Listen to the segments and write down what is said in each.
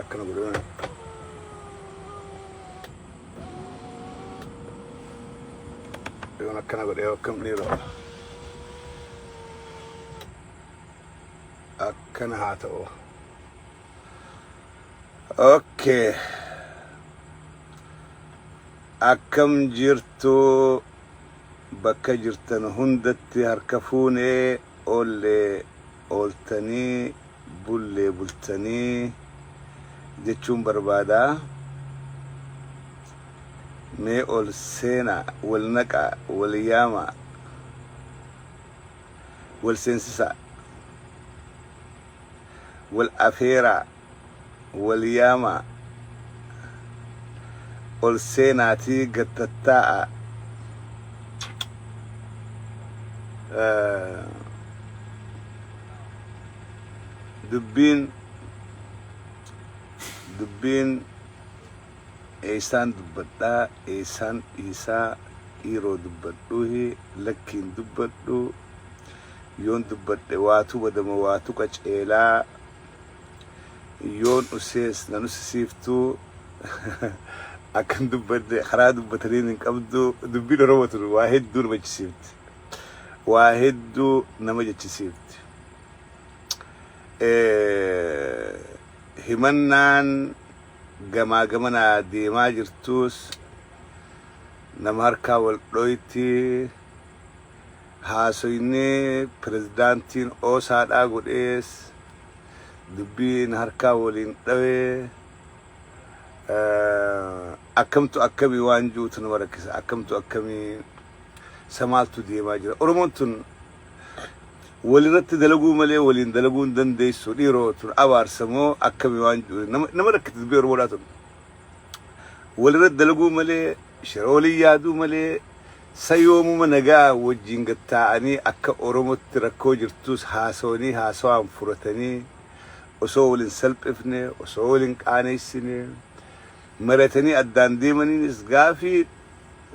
akkana godhe waan yoon akkana godhe yoo akkam dhiiroo akkana haa ta'u okay akkam jirtu bakka jirtan hundatti harka fuunee oollee ooltanii bullee bultanii jechuun barbaada. Mee ol seenaa, wal naqaa, wal yaamaa, wal seensisaa, wal afeeraa. wal yaamaa ol seenaatii gad tattaa'aa Eh, dubbiin dubbiin eessaan dubbadhaa eessaan dhiisaa dhiiroo dubbadhuuhi lakkiin dubbadhu yoon dubbadhe waatu badama waatu qaceelaa Yoon ussees nan ussisiiftu akkan dubbadde karaa dubbataniin hin qabdu dubbiin Oromoo tun waa hedduu nama jechisiifti. Waa hedduu nama jechisiifti. Himannaan gamaa gamanaa deemaa jirtuus nama harkaa wal dhoyti Haasoyni pirezidaantiin Oosaadhaa godhees dubbii na harkaa waliin dhawe. Akkamtu akkami waan ji'utu nama rakkisa. Akkamtu akkami sa maaltu deemaa jira. Oromoon tun walirratti dalaguu malee waliin dalaguu hin dandeessu. Dhiiroo tun abaarsa moo akkami waan ji'u nama nama rakkisa dubbii Oromoodhaa tun. Walirratti dalaguu malee shira waliin yaaduu malee Sa yoomuma nagayaan wajjin gad taa'anii akka Oromotti rakkoo jirtuus haasawanii haasawaan furatanii osoo wal hin salphifne, osoo wal hin qaaneessine mari'atanii addaan deemaniinis gaafii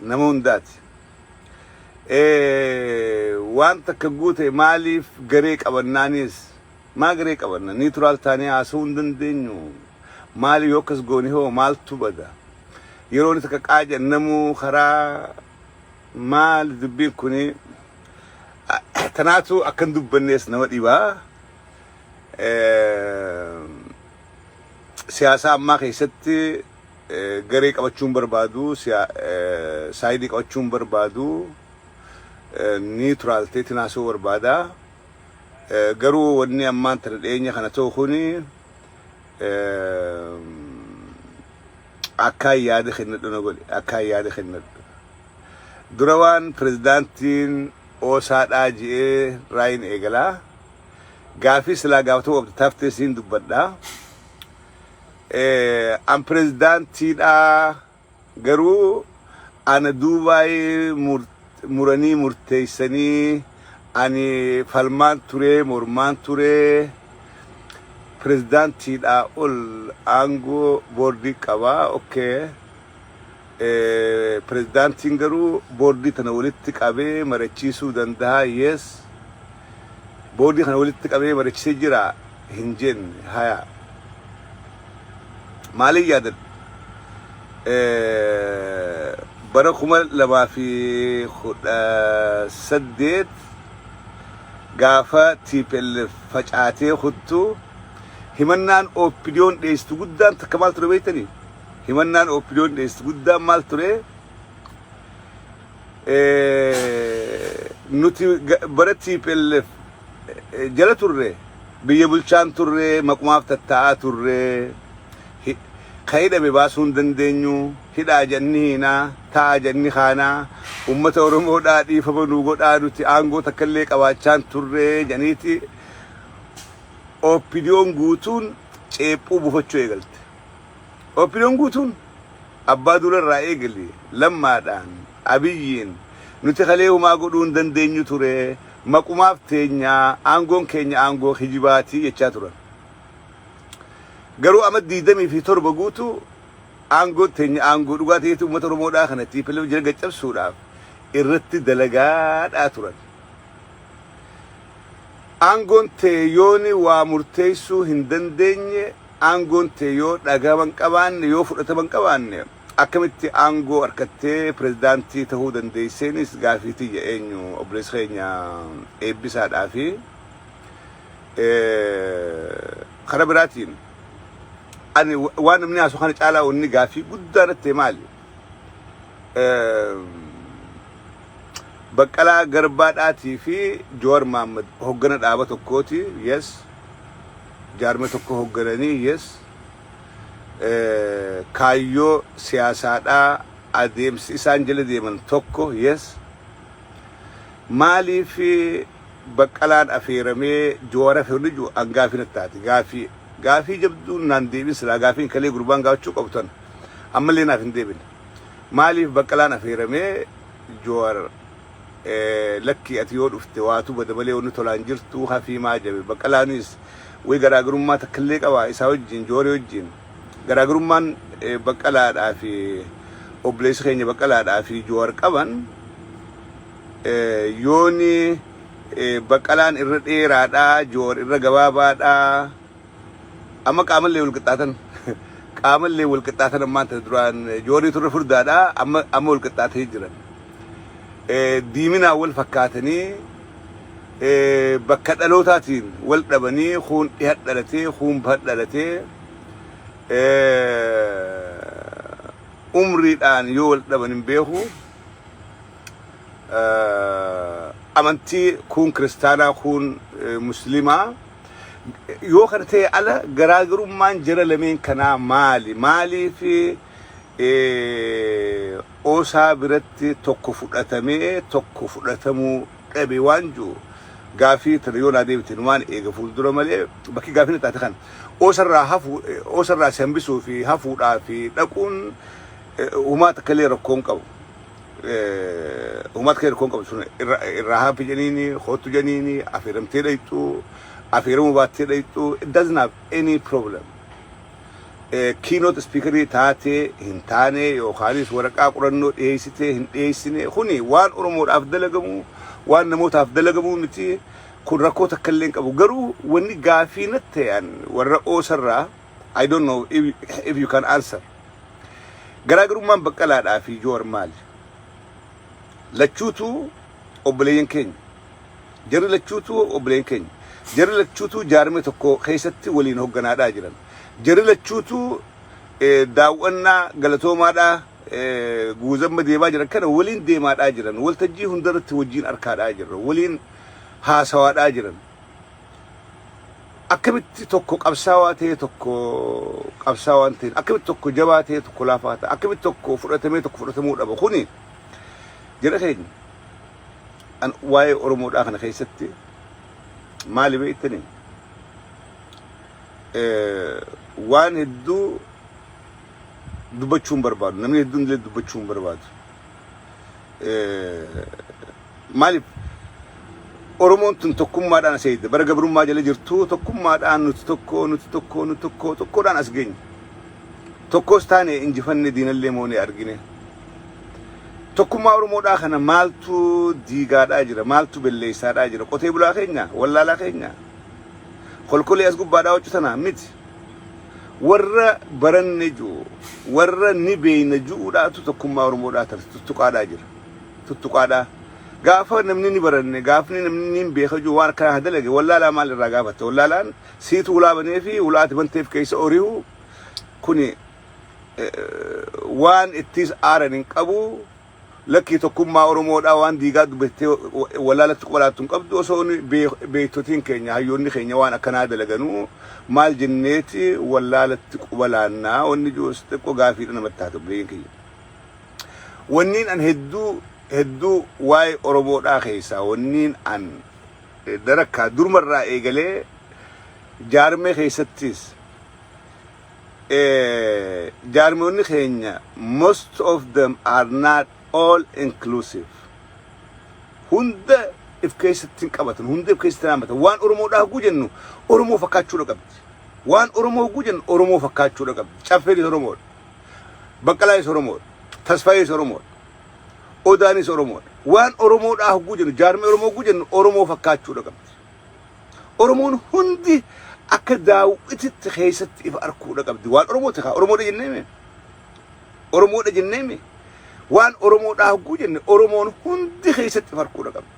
nama hundaati. Ee waan takka guute maaliif garee qabannaaniis Maa garee qabanna? Niituraal taanee haasa'uu hin dandeenyu? Maali yoo akkas goone hoo maaltu bada? Yeroo inni takka qaa jedhan namuu karaa maali dubbiin kuni? Tanaatu akka hin dubbannees nama dhiba. Siyaasaa ammaa keessatti garee qabachuun barbaadu, saayidii qabachuun barbaadu, niituraal ta'eetiin haasa'uu barbaada. Garuu wanni ammaan tana dhiyeenya kana ta'u kun akkaan yaada kennadhu na godhe. Akkaan yaada kennadhu. Dura waan pirezidaantiin oosaa dhaa je'ee raayiin eegala. Gaafii silaa gaafatamuu qabdu taftee siin dubbadha. An pirezidaantii dhaa Garuu ana duubaay muranii murteessanii ani falmaan turee mormaan turee pirezidaantiidhaa ol aangoo boordii qaba ok pirezidaantiin garuu boordii tana walitti qabee marachiisuu dandaha yes boordii kana walitti qabee marachisee jira hin jenne haya Maaliin yaadan? Bara kuma lamaa fi kudha saddeet gaafa TPLF facaatee kuttu himannaan OPDOn dhiyeessitu guddaan takka maal ture beektanii? Himannaan OPDOn dhiyeessitu guddaan maal ture? Nuti bara TPLF jala turre biyya bulchaan turre maqumaaf tattaa'aa turre hi- ka hidhame baasuu hin dandeenyu hidhaa jedhanii hiinaa taa'aa jedhanii kaanaa ummata oromoodhaa dhiifama nuu godhaa nuti aangoo takka illee qabaachaan turre jedhaniiti oppidiyoon guutuun ceephuu buufachuu eegalte oppidiyoon guutuun abbaa duula irraa eegali lammaadhaan abiyyiin nuti kalee humaa godhuu hin dandeenyu ture Maqumaaf teenya, aangoon keenya aangoo kijibaati jechaa turan. Garuu ama 27 guutuu aangoon teenya aangoo dhugaa ta'eetu uummata Oromoodhaa kana tplf jala gaccabsuudhaaf irratti dalagaadhaa turan. Aangoon tee yooni waa murteessuu hin dandeenye, aangoon tee yoo dhagahama hin qabaanne, yoo fudhatama hin qabaanne, Akkamitti aangoo arkattee pirezidaantii tahuu dandeesseenis gaafii tiyya eenyu obboleessi keenya Eebbisaa dhaa fi kara biraatiin ani waan namni haasu kana caalaa wanni gaafii guddaa natti ta'e maali Baqqalaa Garbaa dhaatii fi Jawar Maammad hoggana dhaaba tokkooti yes jaarmee tokko hoggananii yes kaayyoo siyaasaadhaa adeemsi isaan jala deeman tokko yes maaliif baqqalaan afeeramee joowara firri jiru an gaafii natti taate gaafii gaafii jabduun naan deebin silaa gaafiin kalee gurbaan gaafachuu qabu tan ammallee naaf hin deebine maaliif baqqalaan afeeramee joowara Lakkii ati yoo dhufte waatu bada malee wanni tolaa hin jirtuu hafii maa jabe Baqqalaanis way garaagarummaa takkallee qabaa isaa wajjiin Jooree wajjiin garaagarummaan Baqqalaadhaa fi obboleessi keenya Baqqalaadhaa fi Joowar qaban yooni Baqqalaan irra dheeraadhaa Joowar irra gabaabaadhaa Amma qaamallee wal qixxaatan. Qaamallee wal qixxaatan ammaan tana duraan joorri turre furdaadha amma amma wal qixxaatanii jiran. Eh, Diiminaan wal fakkaatanii eh, bakka dhalootaatiin wal dhabanii kuun dhiha dhalatee kuun baha dhalatee eh, umriidhaan yoo wal dhaban hin beeku. Eh, amantii kuun kiristaanaa kuun eh, musliimaa. Yoo kana ta'e ala garaagarummaan jara lameen kanaa maali? Maaliif eh, osaa biratti tokko fudhatamee tokko fudhatamuu dhabe waan jiru gaafii tana yoo naa deebitan waan eega fuuldura malee bakki gaafina taate kana osarraa hafu eh, osarraa si hambisuu fi hafuudhaa fi dhaquun Uumaa takka illee rakkoon qabu. Uumaa takka illee rakkoon qabu sun irraa haafi jeniini, hoottu jeniini, affeeramtee dhayxu, affeeramuu baattee dhayxu, it doesn't have any problem. Keynote speakerii taatee hin taane yookaanis waraqaa qorannoo dhiyeessitee hin dhiyeessine kuni waan Oromoodhaaf dalagamu waan namootaaf dalagamu miti kun rakkoo takka illee hin qabu garuu wanni gaafii natti ta'an warra oosarraa I don't know if, if you can answer. Garaagarummaan Baqqalaadhaa fi Joowar maali? Lachuutuu obboleeyyan keenya. Jarri lachuutuu obboleeyyan keenya. Jarri lachuutuu jaarmee tokko keessatti waliin hogganaadhaa jiran. Jarri lachuutuu eh, daaw'annaa galatoomaadhaa eh, guuzamma deemaa jiran kana waliin deemaadhaa jiran. Waltajjii hundarratti wajjin arkaadhaa jirra. Waliin haasawaadhaa jiran. akkamitti tokko qabsaawaa ta'ee tokko qabsaawaa hin ta'in akkamitti tokko jabaa ta'ee tokko laafaa ta'a akkamitti tokko fudhatamee tokko fudhatamuu dhaba kuni jira keenya an waa'ee oromoodhaa kana keessatti maali beektani waan hedduu dubbachuun barbaadu namni hedduun illee dubbachuun barbaadu maaliif Oromoon tun tokkummaadhaan as eegde bara gabrummaa jala jirtu tokkummaadhaan nuti tokko nuti tokko nuti tokko tokkoodhaan as geenye tokkos taane injifanne diinallee moonee argine tokkummaa Oromoodhaa kana maaltu diigaadhaa jira maaltu belleessaadhaa jira qotee bulaa keenya wallaalaa keenya kolkolee as gubbaadhaa hojjetanaa miti Warra baranne ju'u, warra ni beeyna ju'uudhaatu tokkummaa Oromoo dhaatarte tuttuqaadhaa jira. Tuttuqaadhaa. Gaafa namni ni baranne, gaafni namni niin beeka ju'u waan akkanaa ka dalage wallaalaa maal irraa gaafatta? Wallaalaan siitu hulaa banee fi hulaa ati banteef keessa orihu kuni waan ittiis aaran hin qabu Lakkii tokkummaa oromoodhaa waan diigaa dubbattee wallaalatti quba laattu hin qabdu osoo beektotiin keenya hayyoonni keenya waan akkanaa dalaganu maal jenneeti wallaalatti quba laannaa wanni jiruus xiqqoo gaafiidha namatti taate obboleeyyiin kiyya. Wanniin an hedduu hedduu waa'ee oromoodhaa keessaa wanniin an darakkaa durmarraa eegalee jaarmee keessattis jaarmoonni keenya most of them are not all inclusive hunda if keessatti hin qabatan hunda if keessatti hin hammatan waan oromoodhaa hoguu jennu oromoo fakkaachuudha qabdi waan oromoo hoguu jennu oromoo fakkaachuudha qabdi caffeenis oromoodha baqqalaayis oromoodha tasfaayis oromoodha odaanis oromoodha waan oromoodhaa hoguu jennu jaarmee oromoo hoguu jennu oromoo fakkaachuudha qabdi Oromoon hundi akka daawwititti keessatti ifa arkuudha qabdi. Waan Oromoo takaa Oromoodha jennee mee? Oromoodha jennee mee? Waan Oromoodhaa hogguu jenne Oromoon hundi keessatti ifa arkuudha qabdi.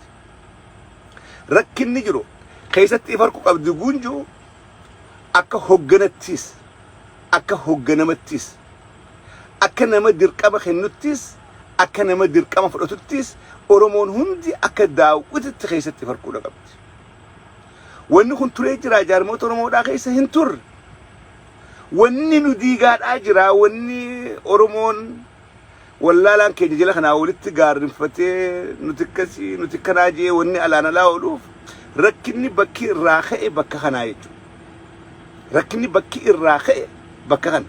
Rakkinni jiru keessatti ifa arku qabdi guunjuu akka hogganattis akka hogganamattis akka nama dirqama kennuttis akka nama dirqama fudhatuttis Oromoon hundi akka daawwititti keessatti farquudha qabdi. Wanni kun turee jiraa jaarmoota Oromoodhaa keessa hin turre. Wanni nu diigaadhaa jiraa wanni Oromoon wallaalaan keenya jala kanaa walitti gaarrinfatee nuti akkasii nuti kanaa jee wanni alaan alaa ooluuf rakkinni bakki irraa ka'e bakka kanaa jechuudha. Rakkinni bakki irraa ka'e bakka kana.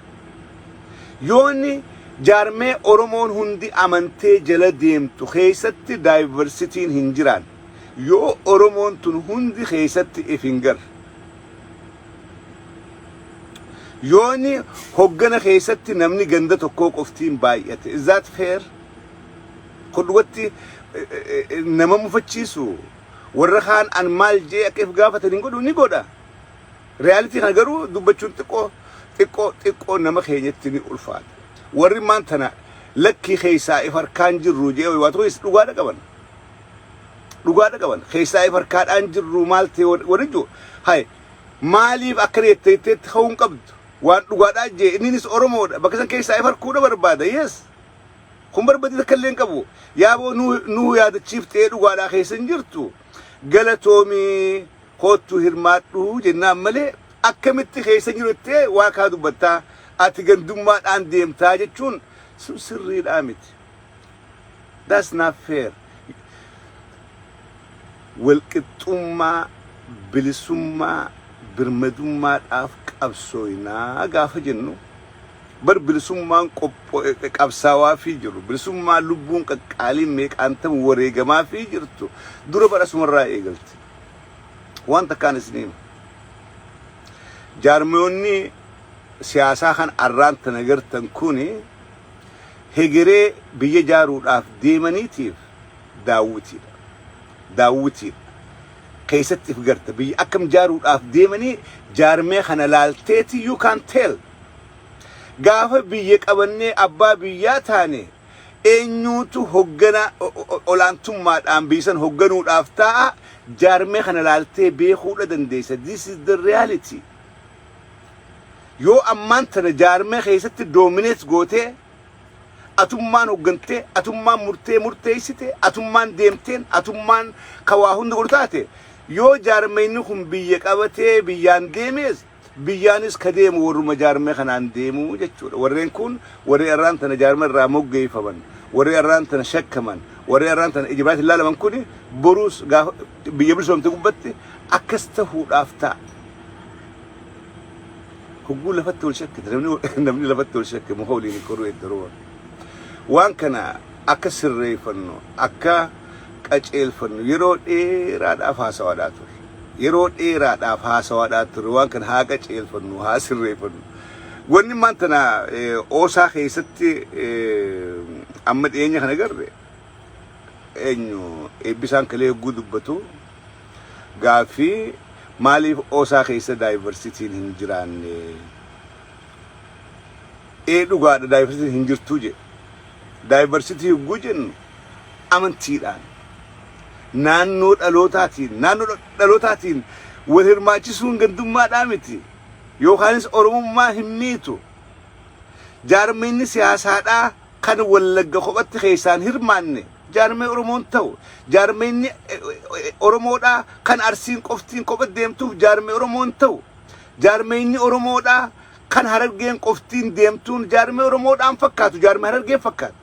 Yoo inni jaarmee Oromoon hundi amantee jala deemtu keessatti daayivarsitiin hin jiraanne, yoo Oromoon tun hundi keessatti if hin garre, yoo inni hoggana keessatti namni ganda tokkoo qoftiin baay'ate, is that fair? Kun dhugatti nama mufachiisu? warra kaan an maal jee akka if gaafatan hin godhu ni godha realitii kana garuu dubbachuun xiqqoo xiqqoo xiqqoo nama keenyatti ni ulfaata warri maan tana lakkii keessaa if harkaan jirru jee waa tokko is dhugaadha qaban dhugaadha qaban keessaa if harkaadhaan jirru maal ta'e warri jiru hay maaliif akkana jettee jetteetti ka'uu hin qabdu waan dhugaadhaa jee inninis oromoodha bakka san keessaa if harkuudha barbaada yes Kun barbadii takka illee hin qabu. Yaaboo nu nu yaadachiiftee dhugaadhaa keessa hin jirtu. Galatoomii koottu hirmaadhu jennaan malee akkamitti keessa hin jiru jettee waa kaa dubbattaa ati gandummaadhaan deemtaa jechuun sun sirriidhaa miti. That's not fair. Walqixxummaa, bilisummaa, birmadummaadhaaf qabsooynaa gaafa jennu Bar bilisummaan qopho'e qabsaawaafii jirru, bilisummaan lubbuun qaqqaaliin meeqaantamu wareegamaafii jirtu dura bar asumarraa eegalti. Waan takkaan isinii hima. Jaarmayoonni siyaasaa kan arraan tana gartan kuni hegeree biyya jaaruudhaaf deemaniitiif daawwitiidha. Daawwitiidha. keessatti if garta. Biyya akkam jaaruudhaaf deemanii jaarmee kana laalteeti you can tell. Gaafa biyya qabannee abbaa biyyaa taane eenyuutu hoggana olaantummaadhaan biyya san hogganuudhaaf taa'a jaarmee kana laaltee beekuudha dandeessa. This is the reality. Yoo ammaan tana jaarmee keessatti dominate gootee atummaan hoggantee, atummaan murtee murteessite, atummaan deemteen, atummaan ka waa hunda godhu taate, yoo jaarmayni kun biyya qabatee biyyaan deemees, biyyaanis ka deemu warruma jaarmee kanaan deemu jechuudha. Warreen kun warri arraan tana jaarma irraa moggeeffaman, warri arraan tana shakkaman, warri arraan tana ija biraatiin ilaalaman kun boruus gaafa biyya bilisoomte gubbatti akkas tahuudhaaf ta'a. hogguu lafatti wal shakkite namni namni lafatti wal shakke muka waliin hin koruu eddaroo waan kana akka sirreeffannu akka qaceelfannu yeroo dheeraadhaaf haasawaadhaa ture yeroo dheeraadhaaf haasawaadhaa ture waan kana haa qaceelfannu haa sirreeffannu wanni maan tana oosaa keessatti amma dhiyeenya kana garre eenyu eebbisaan kalee hogguu dubbatu Gaaffii, Maaliif osa keessa daayivarsitiin hin jiraanne? Ee dhugaadha daayivarsitiin hin jirtuu jedhe. Daayivarsitii yogguu jennu amantiidhaan, naannoo dhalootaatiin, naannoo dhalootaatiin wal hirmaachisuun gandummaadhaa miti. Yookaanis Oromummaa hin miitu. Jaarmiyni siyaasaadhaa kan wallagga kophatti keessaan hirmaanne jaarmee oromoon ta'u jaarmeenni oromoodhaa kan arsiin qoftiin kopha deemtuuf jaarmee oromoon ta'u jaarmeenyi oromoodhaa kan harargeen qoftiin deemtuun jaarmee oromoodhaan fakkaatu jaarmee harargeen fakkaatu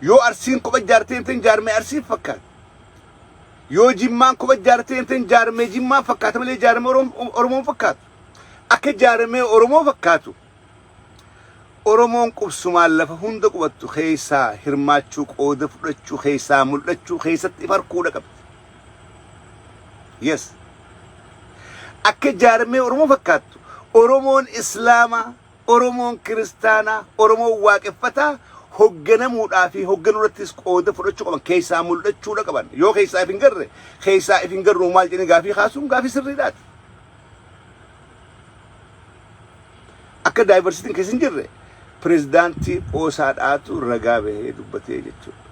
yoo arsiin kopha jaarteen ta'in jaarmee arsiin fakkaatu yoo jimmaan kopha jaarteen ta'in jaarmee jimmaan fakkaata malee jaarmee oromoon fakkaatu akka jaarmee oromoo fakkaatu Oromoon qubsumaan lafa hunda qubattu keessaa hirmaachuu, qooda fudhachuu, keessaa mul'achuu, keessatti if arkuudha qabdi. Yes. Akka jaarmee Oromoo fakkaattu, Oromoon Islaamaa, Oromoon Kiristaanaa, Oromoon Waaqeffataa hogganamuudhaa fi hogganuurrattis qooda fudhachuu qaban keessaa mul'achuudha qaban. Yoo keessaa if hin garre, keessaa if hin garru maal jedhanii gaafii kaasuun gaafii sirriidhaati. Akka daayivarsiitiin keessa hin jirre pirezidaantii qoosaadhaatu ragaa bahee dubbatee jechuudha.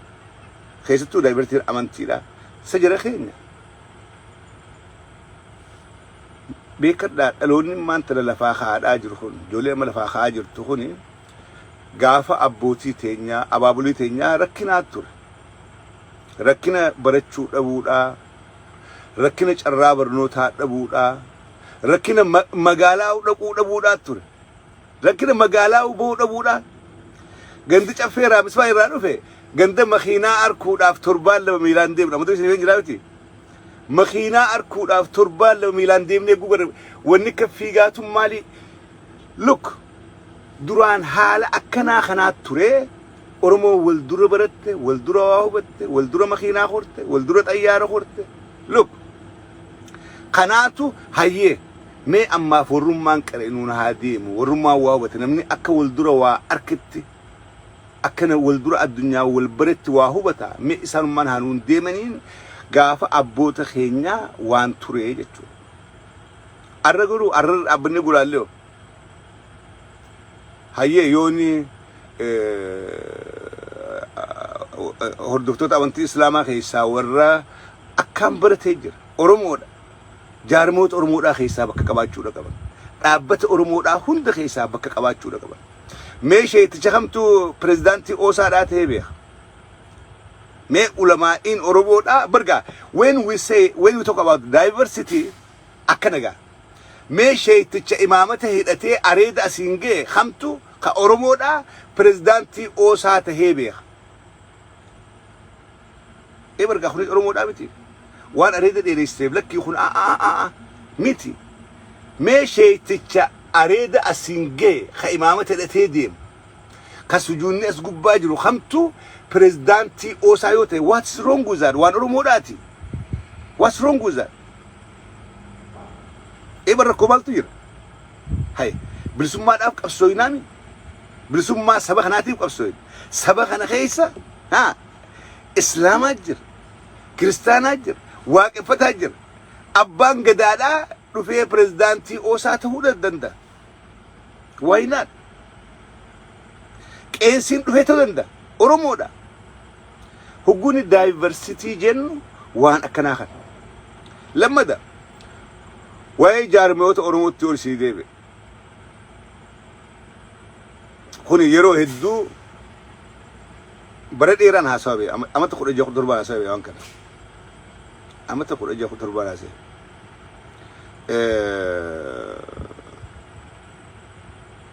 Keessattuu daayivarsiitiin amantiidha. Isa jara keenya. Beekadhaa dhaloonni maanta lafaa kaa'adhaa jiru kun ijoollee amma lafaa kaa'aa jirtu kun gaafa abbootii teenyaa abaabulii teenyaa rakkinaa ture. Rakkina barachuu dhabuudhaa rakkina carraa barnootaa dhabuudhaa, rakkina magaalaa dhaquu dhabuudhaa ture. Rakkina magaalaa bahuu dhabuudhaa. Gandi caffee raamismaa irraa dhufe ganda makiinaa arkuudhaaf torbaan lama miilaan deemna. Mata isin jiraa miti. Makiinaa arkuudhaaf torbaan lama miilaan deemnee gugarra wanni akka fiigaatuun maalii? Look duraan haala akkanaa kanaa turee. Oromoo wal dura baratte, wal dura waa hubatte, wal dura makiinaa korte, wal dura xayyaara korte. Look! Kanaatu hayyee mee ammaaf warrummaan qare nuun haa deemu, warrummaan waa hubate, namni akka wal dura waa arketti, akka na wal dura addunyaa wal baretti waa hubata, mee isaanummaan haa nuun deemaniin gaafa abboota keenyaa waan turee jechuudha. Arra garuu arrarra dhaabbannee gulaallee hoo? Hayyee yooni hordoftoota amantii islaamaa keessaa warra akkaan baratee jira oromoodha jaarmoota oromoodhaa keessaa bakka qabaachuudha qaban dhaabbata oromoodhaa hunda keessaa bakka qabaachuudha qaban mee sheeticha kamtu pirezidaantii oosaadhaa ta'ee beeka mee ulamaa'iin oromoodhaa bargaa when we say when we talk about diversity Akkana gaa mee sheeyticha imaamata hidhatee areeda asiin gahe kamtu ka Oromoodhaa pirezidaantii oosaa tahee beeka? Ee bargaa kuni Oromoodhaa miti? Waan areeda dheereessiteef lakkii kun aaaaaa miti. Mee sheeyticha areeda asiin gahe ka imaamata hidhatee deemu ka sujuunni as gubbaa jiru kamtu pirezidaantii oosaa yoo tahe what's wrong with that? Waan Oromoodhaati? What's wrong with that? Eeba rakkoo maaltu jira? Hay bilisummaadhaaf qabsooyinaa mi? Bilisummaa saba kanaatiif qabsooyina. Saba kana keessa haa Islaamaa jira, Kiristaanaa jira, Waaqeffataa jira. Abbaan gadaadhaa dhufee pirezidaantii oosaa ta'uu danda'a. Why not? Qeensiin dhufee ta'uu danda'a. Oromoodha. Hogguun diversity jennu waan akkanaa kana. Lammada waa'ee jaarmiyoota Oromootti ol sii deebi'e. Kun yeroo hedduu bara dheeraan haasawa bee amata kudha ja'a kudha torbaan haasawa bee waan kana. Amata kudha ja'a kudha torbaan haasawa.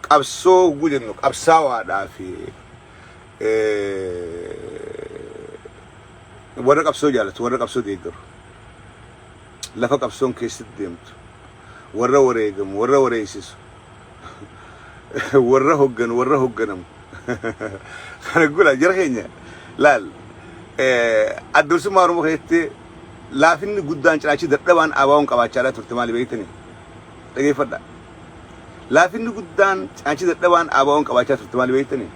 qabsoo hogguu jennu qabsaawaadhaa fi warra qabsoo jaalatu warra qabsoo deeggaru lafa qabsoon keessatti deemtu warra wareegamu warra wareessisu warra hogganu warra hogganamu kana gula jara keenya laal addorsummaa oromoo keessatti laafinni guddaan cinaachi dadhabaan abaawoon qabaachaa turte maali beektani dhageeffadha laafinni guddaan cinaachi dadhabaan abaawoon qabaachaa turte maali beektani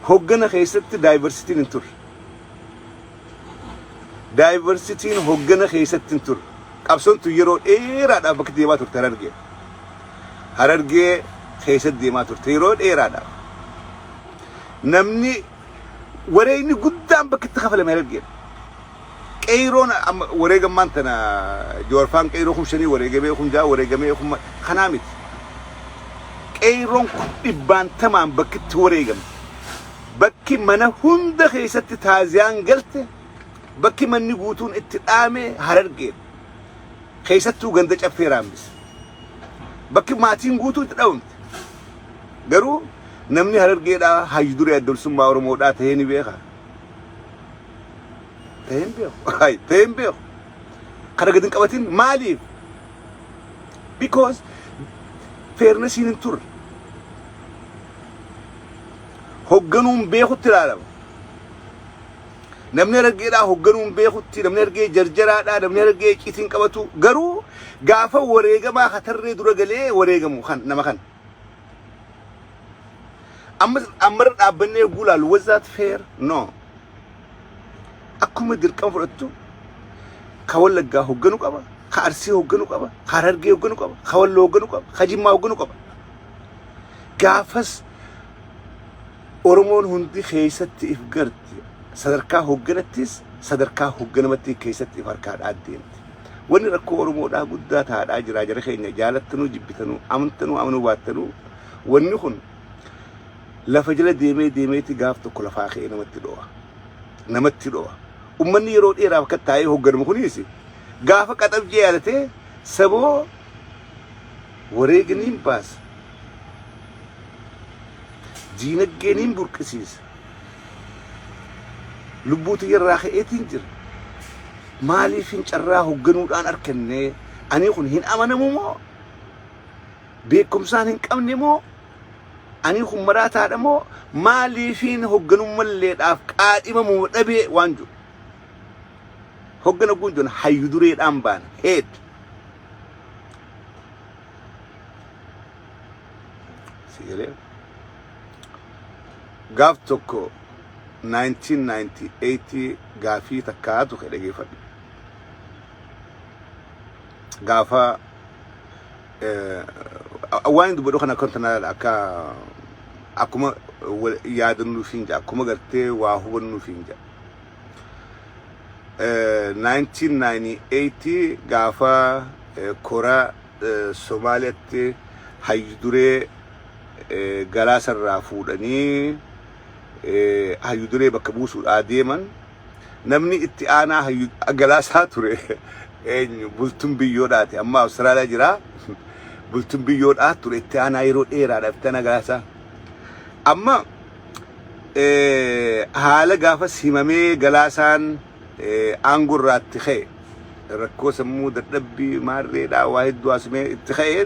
hoggana keessatti daayivarsitiin hin turre Daayivarsitiin hoggana keessatti hin turre. Qabsoon tun yeroo dheeraadhaaf bakka deemaa turte Harargee. Harargee keessatti deemaa turte yeroo dheeraadhaaf. Namni wareegni guddaan bakka itti kafalame Harargee. Qeeyroon amma wareegammaan tana joorfaan qeeyroo kum shanii wareegamee kum ja'a wareegamee kum kanaa miti. Qeeyroon kun dhibbaantamaan bakka itti wareegamte. Bakki mana hunda keessatti taaziyaan galte, bakki manni guutuun itti dhaame Harargeedha. Keessattuu ganda Caffee Raammis. Bakki maatiin guutuu itti dhabamte. Garuu namni Harargeedhaa hayyu duree adda bilisummaa Oromoodhaa ta'ee ni beeka. Ta'ee hin beeku. Hayi, Ta'ee hin beeku. Kana gad hin qabatin maaliif? Because fairnessiin hin turre. hogganuun beekutti ilaalama. Namni harargeedhaa hogganuun beekutti, namni harargee jarjaraadhaa, namni harargee icciitiin qabatu garuu gaafa wareegamaa ka tarree dura galee wareegamu kan nama kana. Amma ammarra dhaabbannee eeguu ilaalu was that fair? No. Akkuma dirqama fudhattu ka wallaggaa hogganu qaba, ka arsii hogganu qaba, ka harargee hogganu qaba, ka walloo hogganu qaba, ka jimmaa hogganu qaba. Gaafas Oromoon hundi keessatti if garti. Sadarkaa hoogganattis sadarkaa hoogganamattii keessatti if harkaa dhaaddeemti. Wanni rakkoo Oromoodhaa guddaa taadhaa jiraa jara keenya jaalattanuu jibbitanuu amantanuu amanuu baattanuu wanni kun lafa jala deemee deemeeti gaaf tokko lafaa ka'ee namatti dho'a. Namatti dho'a. Ummanni yeroo dheeraaf akka taa'ee hoogganamu kunis gaafa qaxabjee yaadatee saboo wareeginiin baasa. Diinaggee niin burqisiisa. Lubbuu tiyya irraa ka'eetiin jira. Maaliifin carraa hogganuudhaan arkanne? Ani kun hin amanamu moo? Beekumsaan hin qabne moo? Ani kun maraataadha moo? Maaliifin hogganummalleedhaaf qaadhimamu dhabee waan jiru? Hoggana guun jiru hayyu dureedhaan baana. Heed. si galee gaaf tokko 1998 gaafii takkaa tokko dhageeffadhu gaafa eh, waan inni dubbadhu kana akka wanta nalaala akka akkuma wal- yaadannuuf hin jaa akkuma gartee waa hubannuuf hin jaa 1998 gaafa kora Somaaliyaatti hayyu duree galaasa irraa fuudhanii hayyu duree bakka buusuudhaa deeman namni itti aanaa hayyu galaasaa ture eenyu bultun biyyoodhaati amma Awustiraaliyaa jira bultun biyyoodhaa ture itti aanaa yeroo dheeraadhaaf itti aanaa galaasaa amma haala gaafas himamee galaasaan aangoo irraatti ka'e rakkoo sammuu dadhabbii maarreedhaa waa hedduu haasumee itti ka'e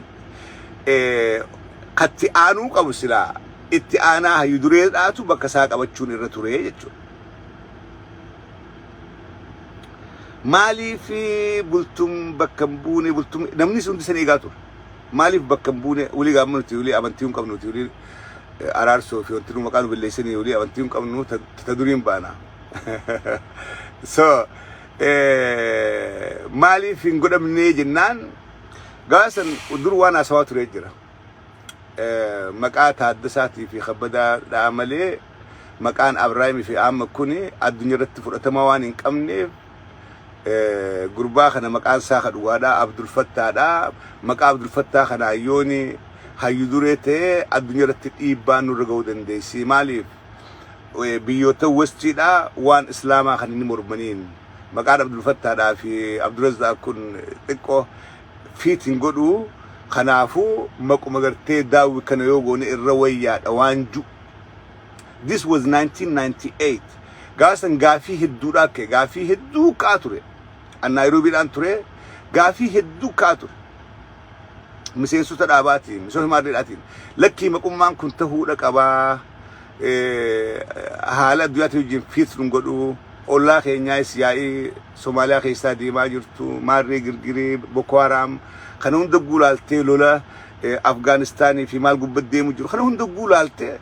katti aanuu qabu silaa itti aanaa hayyu dureedhaatu bakka isaa qabachuun irra ture jechuudha. Maaliif bultum bakka hin buune bultum namni hundi san eegaa ture. Maaliif bakka hin buune wili gaamma nuti wili amantii hin qabnu nuti wili eh, araarsoo fi wanti nu maqaa nu balleessanii wili amantii hin qabnu ta ta duriin baana. so eh, maaliif hin godhamnee jennaan gaasan dur waan haasawaa turee jira. Eh, maqaa taaddasaatii fi kabbadaadhaa malee maqaan abrahaamii fi amma kun addunyaa irratti fudhatama waan hin qabneef gurbaa kana maqaan isaa ka dhugaadhaa Abdul Fattaadhaa maqaa Abdul Fattaa kanaa yooni hayyu duree ta'e addunyaa irratti dhiibbaan nurra ga'uu dandeessi maaliif biyyoota westiidhaa waan islaamaa kan inni mormaniin maqaan Abdul Fattaadhaa fi Abdulazzaaq kun xiqqoo fiit hin godhu kanaafuu maquma gartee daawwi kana yoo goone irra wayyaadha waan ju This was 1998. Gaafa san gaafii hedduudhaa ka'e. Gaafii hedduu ka'aa ture. An Naayiroobiidhaan ture. Gaafii hedduu ka'aa ture. Miseensota dhaabaatiin, miseensota maaddeedhaatiin. Lakkii maqummaan kun ta'uudha qabaa. Eh, Haala addunyaatiin wajjin fiits nun godhu. Ollaa keenyaas yaa'ii Somaaliyaa keessaa deemaa jirtu. Maarree girgiree, Boko Haram. Kana hunda guulaaltee lola eh, Afgaanistaanii fi maal gubbatti deemu jiru. Kana hunda guulaaltee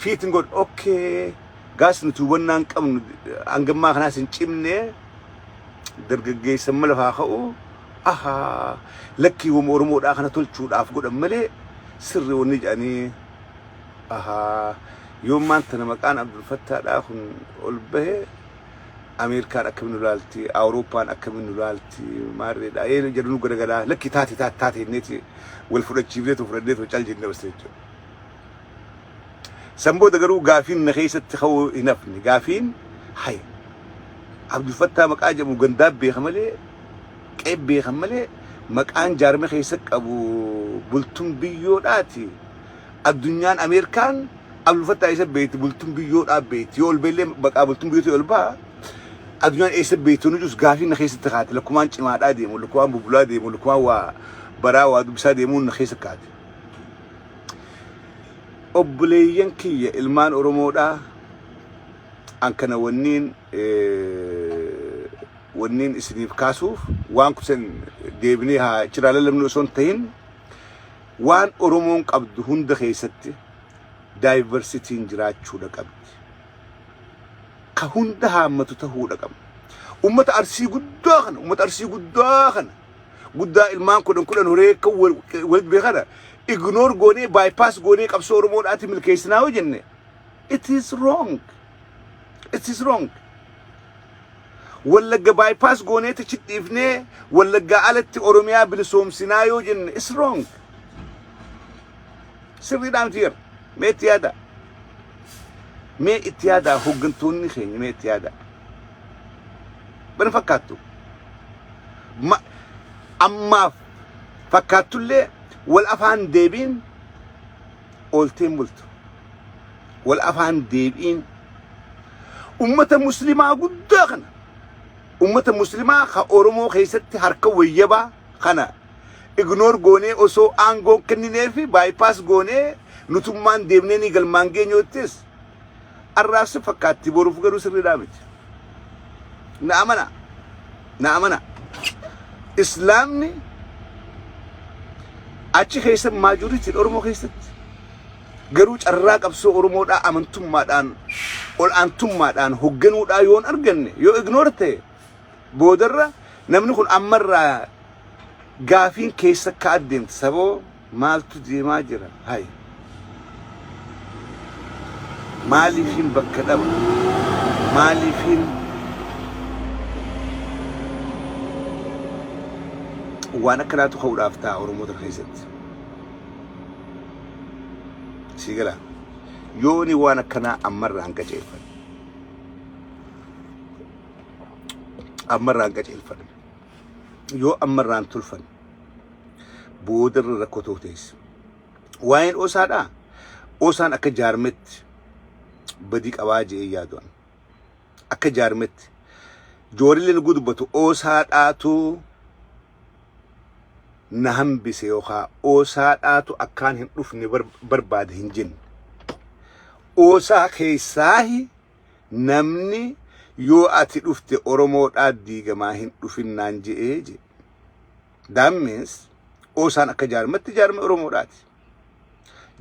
Fiitin godh okkee gaas nuti hubannaa hin qabnu hangammaa kanaas hin cimne dargaggeessan mala faa ka'u ahaa lakkii wama oromoodhaa kana tolchuudhaaf godhan malee sirri wanni jedhanii ahaa yoo maanta na maqaan abdulfattaadhaa kun ol bahe Ameerikaan akkamiin nu laalti, Awurooppaan akkamiin nu laalti, maarreedha. Ee jedhu nu garagalaa lakkii taate taate taate inneeti wal fudhachiifnee too fudhannee too cal jennee basne jechuudha. San booda garuu gaafiin na keessatti ka'uu hin hafne. Gaafiin hay Abdulfattaa maqaa jedhamu gandaa beeka malee qe'ee beekan malee maqaan jaarmee keessa qabu bultun biyyoodhaati. Addunyaan Ameerikaan Abdulfattaa isa beekti bultun biyyoodhaa beekti. Yoo ol beellee maqaa bultun biyyootii ol ba'a. Addunyaan eessa beektu nu jirus gaafiin na keessatti kaate lakkumaan cimaadhaa deemu lakkumaan bubbulaa deemu lakkumaan waa baraa waa dubbisaa deemuun na keessa kaate. obboleeyyan kiyya ilmaan oromoodhaa an kana wanniin wanniin isiniif kaasuuf waan kusan deebinee haa chiraa lallabnu osoo hin ta'in waan oromoon qabdu hunda keessatti daayivarsitiin jiraachuudha qabdi ka hunda haammatu ta'uudha qabdi ummata arsii guddaa kana ummata arsii guddaa kana guddaa ilmaan kudhan kudhan horee akka wal- walitti beekana ignore goonee bypass goonee qabsoo oromoodhaatti milkeessinaa yoo jenne it is wrong it is wrong wallagga bypass goonee tachi dhiifnee wallaggaa alatti oromiyaa bilisoomsinaa yoo jenne is wrong sirriidhaan tiyer mee itti yaada mee itti yaada hooggantoonni keenya mee itti yaada bana fakkaattu Ma- ammaaf fakkaattullee wal afaan deebiin oolteen bultu wal afaan deebiin ummata muslimaa guddaa kana ummata muslimaa ka oromoo keessatti harka wayyabaa kana ignoor goonee osoo aangoon kenninee fi baayipaas goonee nutummaan deemnee ni galmaan geenyoottis Arraaf si fakkaatti boruuf garuu sirriidhaa miti. Na amanaa. Na amanaa. Islaamni achi keessa maajoritiin Oromoo keessatti garuu carraa qabsoo Oromoodhaa amantummaadhaan ol aantummaadhaan hogganuudhaa yoon arganne yoo ignoor ta'e boodarra namni kun ammarraa gaafiin keessa akka addeemti saboo Maaltu deemaa jira hay. Maaliifiin bakka dhaba maaliifiin waan akkanaatu ka'uudhaaf ta'a oromoota keessatti sii galaa yooni waan akkanaa ammarraa hin qajeelfan ammarraa hin qajeelfan yoo ammarraa hin tulfan booda irra rakkoo ta'uu ta'es. Waa'een osaadhaa osaan akka jaarmetti badii qabaa je'ee yaadu'an. Akka jaarmetti joorillee nugguu dubbatu osaadhaatu na hambise yookaan osaadhaatu akkaan hin dhufne bar- barbaade hin jenne. Osaa keessaahi namni yoo ati dhufte Oromoodhaa diigamaa hin dhufinnaan je'ee je'e. That means Oosaan akka jaarmatti jaarma Oromoodhaati.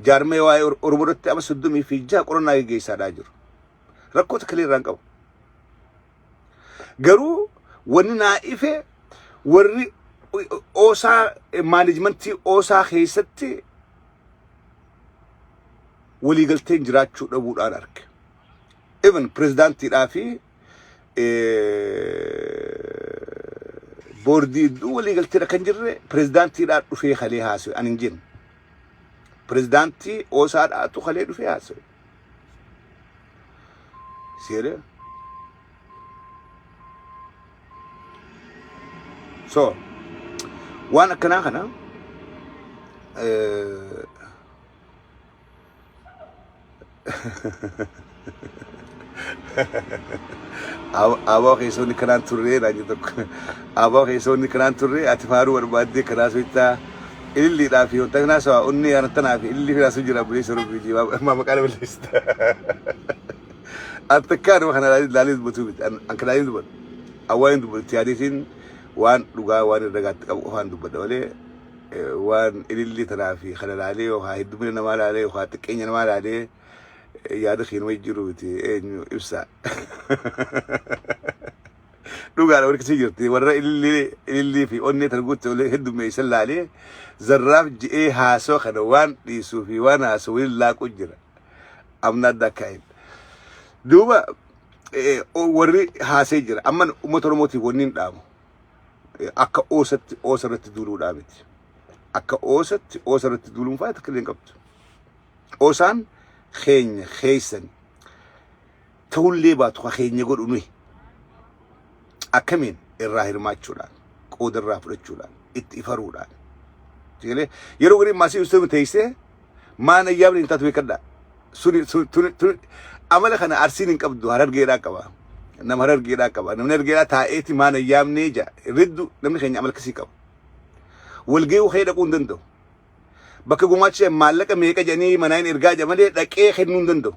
Jaarmee waa'ee Or- Oromoo irratti amma soddomii fi jaha qorannaa geggeessaadhaa jiru. Rakkoo takka illee irraa hin qabu. Garuu wanni naa ife warri Oosaa maanejmentii Oosaa keessatti waliigalteen jiraachuu dhabuudhaan arge. Even pirezidaantiidhaa fi boordii iddoo walii galteedha kan jirre pirezidaantiidhaan dhufee kalee haasa'e ani hin jenne. Pirezidaantii oosaadhaatu kalee dhufee haasa'e. Seera. So waan akkanaa kana Aboo keessoonni kanaan turree naan jedhu tokko. Aboo keessoonni kanaan turree ati faaruu barbaaddee kanaa soittaa ililliidhaa fi wanta kanaa sawa onnee ana tanaa fi ilillii kanaa sun jira buleessa rubbii jii maa maqaa nama leessita. Ati takkaa nama kana ilaalee dubbatu miti an an kanaa hin dubbatu. Awwaan hin dubbatu itti yaadeetiin waan dhugaa waan irra gaatti qabu qofaan dubbadha malee waan ilillii tanaa fi kana laalee yookaan heddumina namaa laalee yookaan xiqqeenya namaa laalee yaada kee nama jijjiiruu miti eenyu ibsaa. Dhugaadha warri akkasii jirti warra ilillii ilillii fi onnee tan guutte olee heddummeessan laalee zarraaf ji'ee haasoo kana waan dhiisuu fi waan haasoo waliin laaquu jira. Amna adda akka hin. Duuba warri haasee jira amma uummata Oromootiif wanni hin dhaamu. akka oosatti oosa irratti duuluudhaa miti. Akka oosatti oosa irratti duuluun faaya takka illee hin qabdu. Oosaan keenya keessan ta'ullee baatu ka keenya godhu nuyi. Akkamiin irraa hirmaachuudhaan qooda irraa fudhachuudhaan itti ifaruudhaan. Yeroo gariin maasii ustaama teessee maan ayyaamni hin taatu beekadha suni suni tuni tuni amala kana arsiin hin qabdu harargeedhaa qaba nama harargeedhaa qaba namni harargeedhaa taa'eeti maan ayyaamnee ja riddu namni keenya amala akkasii qaba walgee'uu kee dhaquu hin danda'u bakka gumaacha maallaqa meeqa jedhanii manaa hin ergaa jedha malee dhaqee kennuu hin danda'u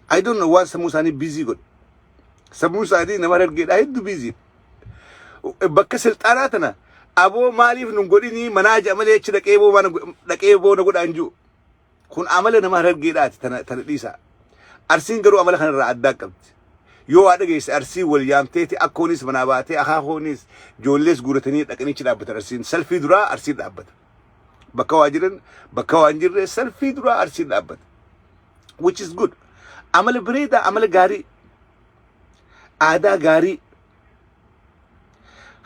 I don't know waan sammuu isaanii biizii godhe. Sammuun isaanii nama harargeedhaa hedduu biizii. Bakka silxaanaa tana aboo maaliif nun godhinii manaa ja'a malee achi dhaqee boo mana go- dhaqee boo na godhaan jiru. Kun amala nama harargeedhaati tana tana dhiisaa. Arsiin garuu amala kanarraa addaa qabdi. Yoo waa dhageesse arsiin wal yaamteeti akkoonis manaa baatee akaakooniis joollees guuratanii dhaqanii achi dhaabbatan arsiin. Salfii duraa arsiin dhaabbata. bakka waa jiran bakka waan jirre salfii duraa arsiin dhaabbate which is good amala bareedaa amala gaarii aadaa gaarii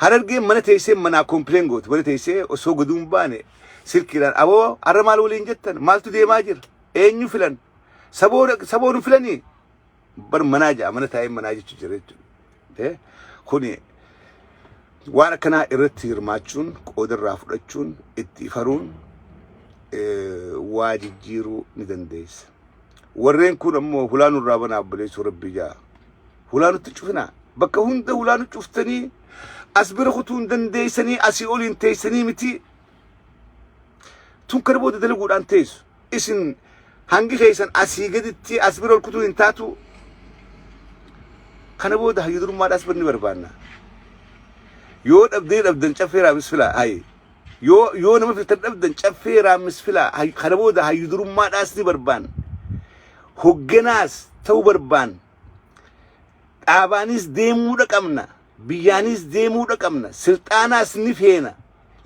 harargeen mana teessee manaa kompileen goote mana teessee osoo gaduun baane silkiidhaan aboo har'a maal waliin jettan maaltu deemaa jira eenyu filan saboon filanii bar manaa ja'a mana taa'ee manaa jechu jira jechuudha. Eh, Kuni waan akkanaa irratti hirmaachuun qooda irraa fudhachuun itti ifaruun eh, waa jijjiiruu ni dandeessa. Warreen kun ammoo hulaa nurraa banaa obboleessuu rabbii ja'a. Hulaa nutti cufinaa. Bakka hunda hulaa nu cuftanii as bira kutuu hin dandeessanii asii oliin teessanii miti. tun kana booda dalaguudhaan teessu isin hangi keessan asii gaditti as bira ol kutuu hin taatu kana booda hayyu durummaadhaas banni barbaanna yoo dhabdee dhabdan caffee raamis filaa hayi yoo yoo nama filtan dhabdan caffee raamis filaa Hay- kana booda hayyu durummaadhaas ni barbaanna hogganaas ta'uu barbaanna dhaabaanis deemuudha qabna Biyyaanis deemuu dhaqabna silxaanaas ni feena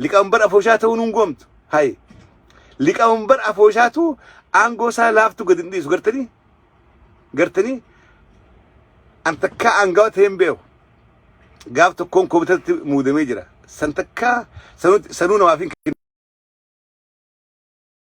liqawanbar afooshaa ta'uu nun gomtu hay liqawanbar afooshaatu aangoo isaa laaftu gad hin dhiisu gartanii gartanii an takkaa aangawa ta'ee hin beeku gaaf tokkoon komitatti muudamee jira san takkaa sanuu namaaf hin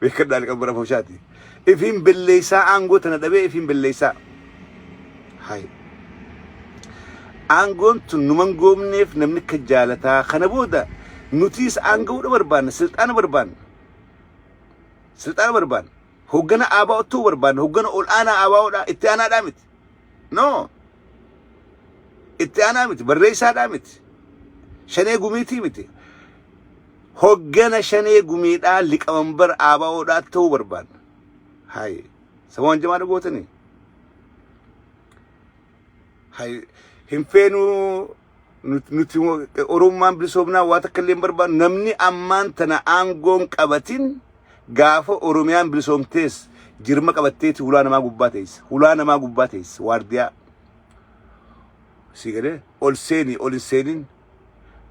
beekadhaa liqan bara foshaati ifiin belleessaa aangoo tana dhabee ifiin belleessaa hay aangoon tun numan goomneef namni akka jaalataa kana booda nutiis aanga'uudha barbaanna silxaana barbaanna silxaana barbaanna hoggana aabaa ottuu barbaanna hoggana ol aanaa aabaa'oodha itti aanaadhaa miti no itti aanaa miti barreessaadhaa miti shanee gumiitii miti Hoggana shanee gumiidhaa liqamanbar ABOdhaa ta'uu barbaadna. Hayi. Saboon jamaadha gootanii. Hayi. Hin feenuu nut- nuti mo- oromummaan bilisoomnaa waa takka illee hin barbaadnu namni ammaan tana aangoon qabatin gaafa oromiyaan bilisoomtees jirma qabatteeti hulaa namaa gubbaa teessa hulaa namaa gubbaa teessa waardiyaa sii galee ol seenii ol hin seenin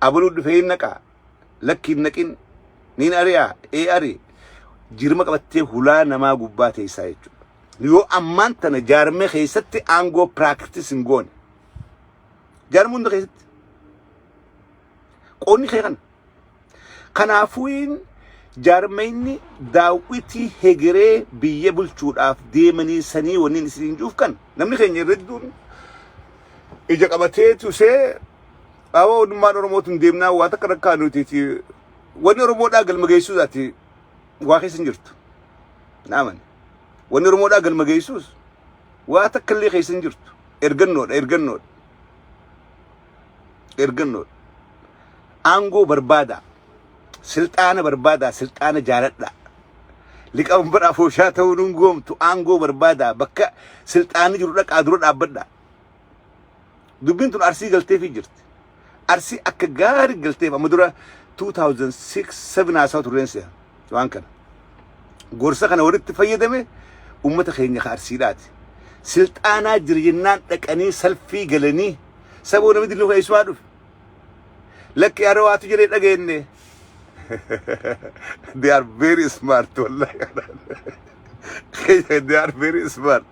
abaluu dhufee hin naqaa lakki hin naqin niin ari'a ee ari jirma qabattee hulaa namaa gubbaa teessaa jechuudha. Yoo ammaan tana jaarmee keessatti aangoo piraaktis hin goone. Jaarmee hunda keessatti qoonni kee kana. Kanaafuu jaarmeenni daawwitii hegeree biyya bulchuudhaaf deemanii sanii waniin isin juuf kan namni keenya irra hedduun ija qabatee tusee Dhaaba Ummannummaan Oromootiin deemnaa waa takka rakkaa nuti fi wanni Oromoodhaa galma geessuus ati waa keessa hin jirtu. Naaman. Wanni Oromoodhaa galma geessuus waa takka illee keessa hin jirtu. Ergannoodha, ergannoodha, ergannoodha. Aangoo barbaadaa, silxaana barbaadaa, silxaana jaaladhaa. Liqaan bara afooshaa ta'uun hin goomtu aangoo barbaadaa bakka silxaanni jiru dhaqaa dura dhaabbadhaa. Dubbiin tun Arsii galteefii jirti. Arsii akka gaari galteef amma dura 2006 7 haasawa turreen se'a waan kana. Gorsa kana walitti fayyadame ummata keenya ka Arsiidhaati. Silxaanaa jira jennaan dhaqanii salfii galanii saboo namni dilnuu keessumaa dhufe. Lakki are waatu jedhee dhageenne. They are very smart wallahi. They are very smart.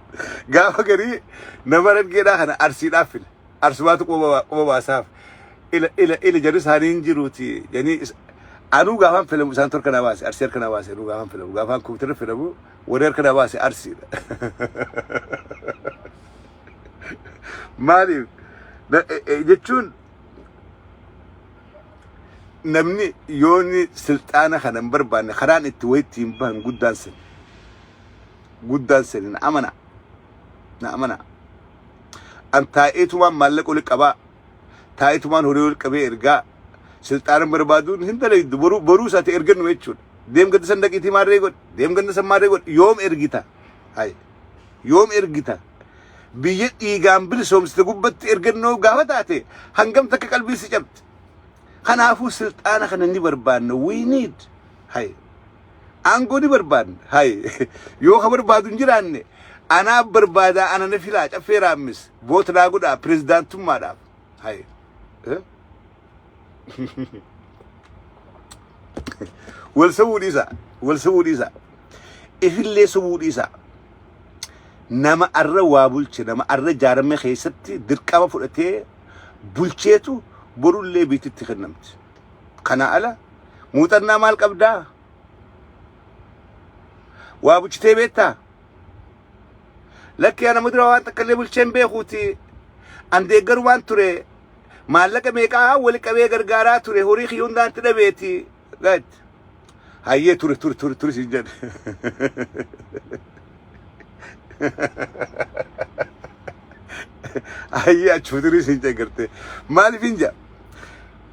Gaafa garii nama argeedhaa kana arsiidhaaf file. Arsumaatu quba quba baasaaf. Ila ila ila jedhu isaanii hin jiruuti. Janii is- anuu gaafaan filamu isaan torka na baase arsii harka na baase anuu gaafaan filamu gaafaan kompiitara filamu warri harka na baase arsiidha. maaliif na- e- e- jechuun namni yooni silxaana kana hin barbaanne karaan itti wayitti hin bahan guddaan sin guddaan sin na amana na amana an taa'eetumaan maallaqa oli qabaa taa'eetumaan horii oli qabee ergaa silxaana barbaaduun hin dalaydu boruu boruu isaati ergannu jechuudha deem gadda san daqiitii maarree godhe deem gadda san maarree godhe yoom ergita hayi Yoom ergita? Biyya dhiigaan bilisoomsite gubbatti ergannoo gaafa taate hangam takka qalbii si cabdi. Kanaafuu silxaana kana ni barbaanna. We need. Hay. Aangoo ni barbaanna. Hay. Yoo ka barbaadu hin jiraanne anaa barbaadaa ana na filaa caffee raammis voot naa godhaa pirezidaantummaadhaaf. Hay. Eh? wal sobuu dhiisa wal sobuu dhiisa ifillee sobuu dhiisa nama arra waa bulche nama arra jaarame keessatti dirqama fudhatee bulcheetu borullee biititti kennamti kana ala muuxannaa maal qabdaa waa bulchitee beektaa lakkee nama dura waan takka illee bulcheen beekuuti an deeggarumaan ture maallaqa meeqaa wali qabee gargaaraa ture horii kiyya hundaan ti dhabeeti gad hayyee turi turi turi turi sin jedhe hayyee achuma turi sin jedhe garte maaliif hin jedha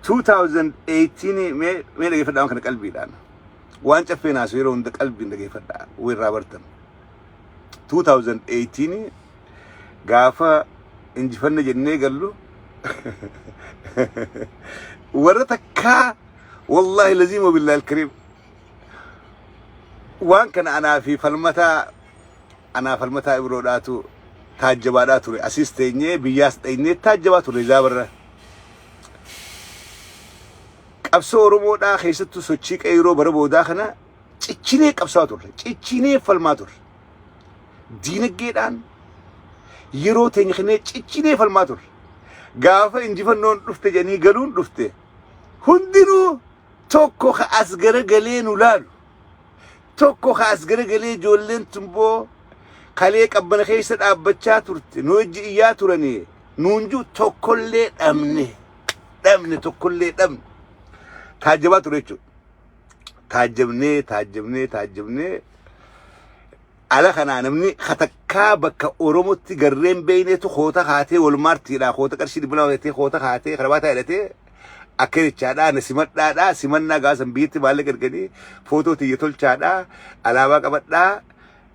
2018 mee mee dhageeffadhaa waan kana qalbiidhaan waan caffee naasu yeroo hunda qalbiin dhageeffadhaa irraa bartan 2018 gaafa injifanna jennee gallu warra takkaa wallaahi laziim wabillahi alkariim waan kana anaa fi falmataa anaa falmataa ibroodhaatu taajjabaadhaa ture asiis teenyee biyyaas dheenyee taajjabaa ture zaabarra qabsoo oromoodhaa keessattuu sochii qeeyroo bara boodaa kana cichinee qabsaa turre cichinee falmaa turre diinagdeedhaan yeroo teenya kennee cichinee falmaa turre. Gaafa injifannoon dhufte jedhanii galuun dhufte hundinuu tokko ka as garagalee nu laalu. Tokko ka as garagalee ijoolleen tumboo kalee qabbana keessa dhaabbachaa turte nu wajji iyyaa turanii nuun jiru tokkollee dhabne. Dhabne tokkollee dhabne. Taajjabaa ture jechuudha. taajjabnee taajjabnee taajjabnee ala kanaa namni katakkaa bakka Oromotti garreen beeyneetu koota kaatee walmaartiidhaa koota qarshii dhibba lama hidhatee koota kaatee karabaataa hidhatee akka jechaadhaa na simadhaadhaa simannaa gaasan biyyatti maallaqa erganii footoo tiyya tolchaadhaa alaabaa qabadhaa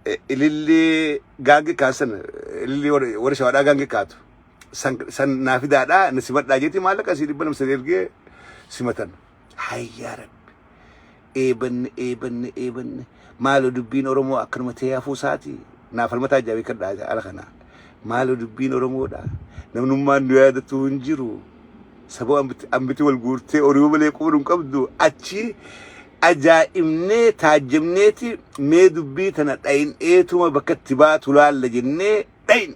eh, ilillii gaangee kaansan ilillii warra warra shawaadhaa gaangee kaatu san san naa fidaadhaa na simadhaa jeetii maallaqa asii dhibba lama san ergee simatan. Hay yaa rabbi. Eebanne eebanne eebanne. Maaloo dubbiin Oromoo akkanuma ta'ee hafuu isaati. Naa falmataa jira beekadhaa ala kana. Maaloo dubbiin Oromoodha. Namnummaan nu yaadatu hin jiru. Saboo ambiti ambiti wal guurtee oriiba malee quba hin qabdu. Achi ajaa'ibnee taajjabneeti mee dubbii tana dhayin eetuma bakka itti baatu laalla jennee dhayin.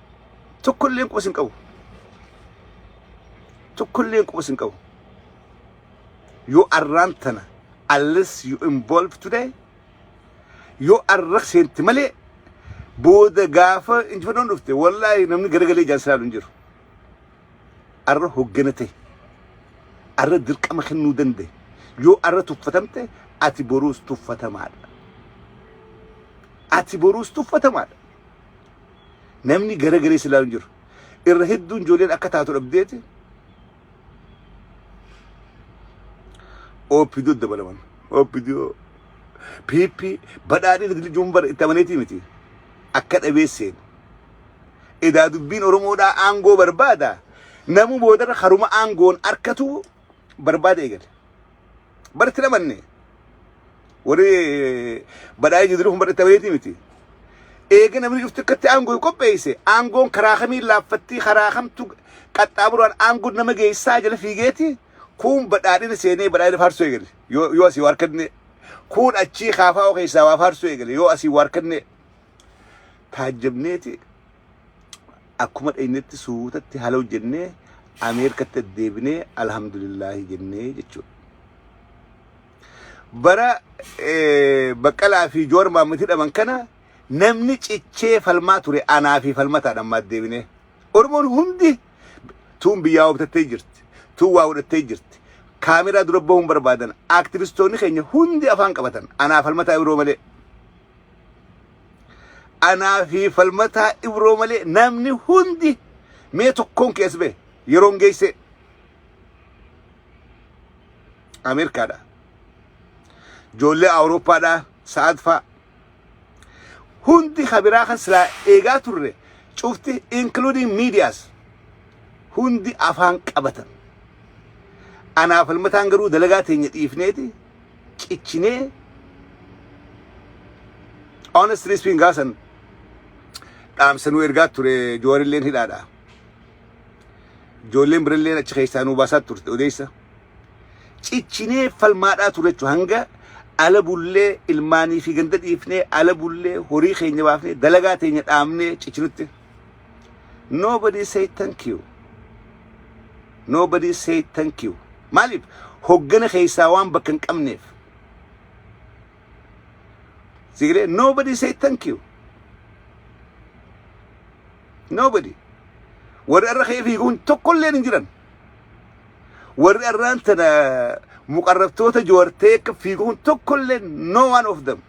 Tokko illee quba sin qabu. Tokko illee quba sin qabu. Yoo arraan tana unless you involve today yoo arra seenti malee booda gaafa injifannoon dhufte wallaahi namni garagalee ijaan silaalu hin jiru. Arra hoggana ta'e. Arra dirqama kennuu danda'e. Yoo arra tuffatamte ati boruus tuffatamaadha. Ati boruus tuffatamaadha. Namni gara garee silaa hin jiru. Irra hedduun ijoolleen akka taatu dhabdeeti. OPDO dabalaman. OPDO PP badhaadhina diljuun bara itti amaneetii miti. Akka dhabee seenu. Edaa dubbiin Oromoodhaa aangoo barbaada. Namu boodarra haruma aangoon arkatu barbaada eegale. Barti dhabanne warri badhaa'ee jiru kun barri tabeetii miti. Eega namni dhufti akkatti aangoo qopheesse aangoon karaa kamiin laaffattii karaa kamtu qaxxaamuraan aangoon nama geessaa jala fiigeeti kun badhaadhina seenee badhaadhina faarsuu eegale yoo asii waa harkanne kun achii kaafaa keessaa waa faarsuu eegale yoo asii waa harkanne taajjabneeti akkuma dhaynetti suutatti hala hojjennee Ameerikatti addeebinee alhamdulillaahi jennee jechuudha. Bara baqqalaa fi joor maammati dhaman kana namni cichee falmaa ture anaa fi falmataadhaan ammaa addeebinee. Oromoon hundi tuun biyyaa hobtattee jirti. Tuun waa godhattee jirti. Kaameraa dura bahuun barbaadan. Aktivistoonni keenya hundi afaan qabatan. Anaa falmataa yeroo malee. Anaa fi falmataa ibroo malee namni hundi mee tokkoon kees bee yeroon geessee Ameerikaadha. Ijoollee Awurooppaadha sa'aatfaa hundi kabiraa kan silaa eegaa turre cufti including medias hundi afaan qabatan. Anaa falmataan garuu dalagaa teenya dhiifneeti cichinee honestly speaking gaasan dhaamsa nu ergaa ture joorilleen hidhaadha ijoolleen biralleen achi keessaa nu baasaa turte odeessa cichinee falmaadhaa ture jechuun hanga ala bullee ilmaanii fi ganda dhiifnee ala bullee horii keenya baafnee dalagaa teenya dhaabnee cicinutti Nobody say thank you. Nobody say thank you. Maaliif hoggana keessaa waan bakka hin qabneef. Sigiree nobody say thank you. Nobody. Warri irra kee fiiguun tokkolleen hin jiran. Warri irraan tana muqarrabtoota joortee akka fiiguun tokkolleen no one of them.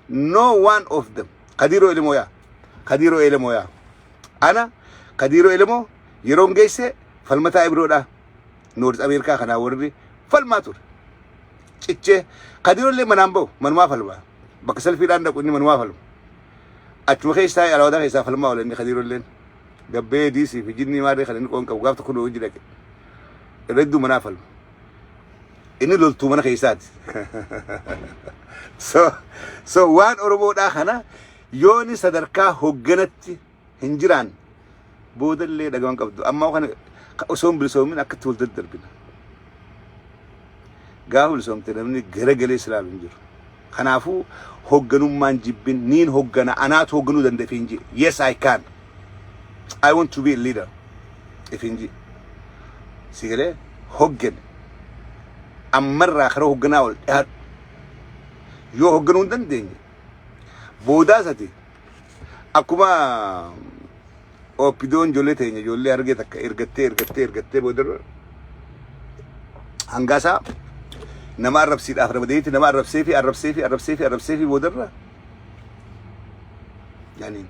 no one of them kadiiro elemoo yaa kadiiro elemoo yaa ana kadiiro elemoo yeroon geesse falmataa ibiroodhaa noorz ameerikaa kanaa warri falmaa ture cichee kadiiro illee manaan ba'u manumaa falmaa bakka salfiidhaan dhaqu inni manumaa falma achuma keessaa alaawadaa keessaa falmaa oola inni kadiiro illeen gabbee diisii fi jinnii maarree kan inni qoon qabu gaaf tokko nu hojii dhaqe irra hedduu manaa falma Inni loltuu mana keessaati. So, so waan Oromoodhaa kana yooni sadarkaa hogganatti hin jiraan boodallee dhagawan qabdu. Amma kana ka- osoo hin bilisoomin akkatti wal daddarbina. Gaafa bilisoomte namni garagalee silaalu hin jiru. Kanaafuu hoogganummaan jibbin niin hooggana anaatu hoogganuu danda'e ifiin ji'i. Yes I can. I want to be a leader ifiin ji'i. Si galee hooggani. Ammarraa kara hoogganaa ol dhihaadhu. Yoo hoogganuu hin dandeenye boodaas ati akkuma oppidoon ijoollee teenya ijoollee argee takka ergattee ergattee ergattee booda hangaasaa nama arrabsiidhaaf ramadeetti nama arrabsee fi arrabsee fi arrabsee fi arrabsee fi boodarra yani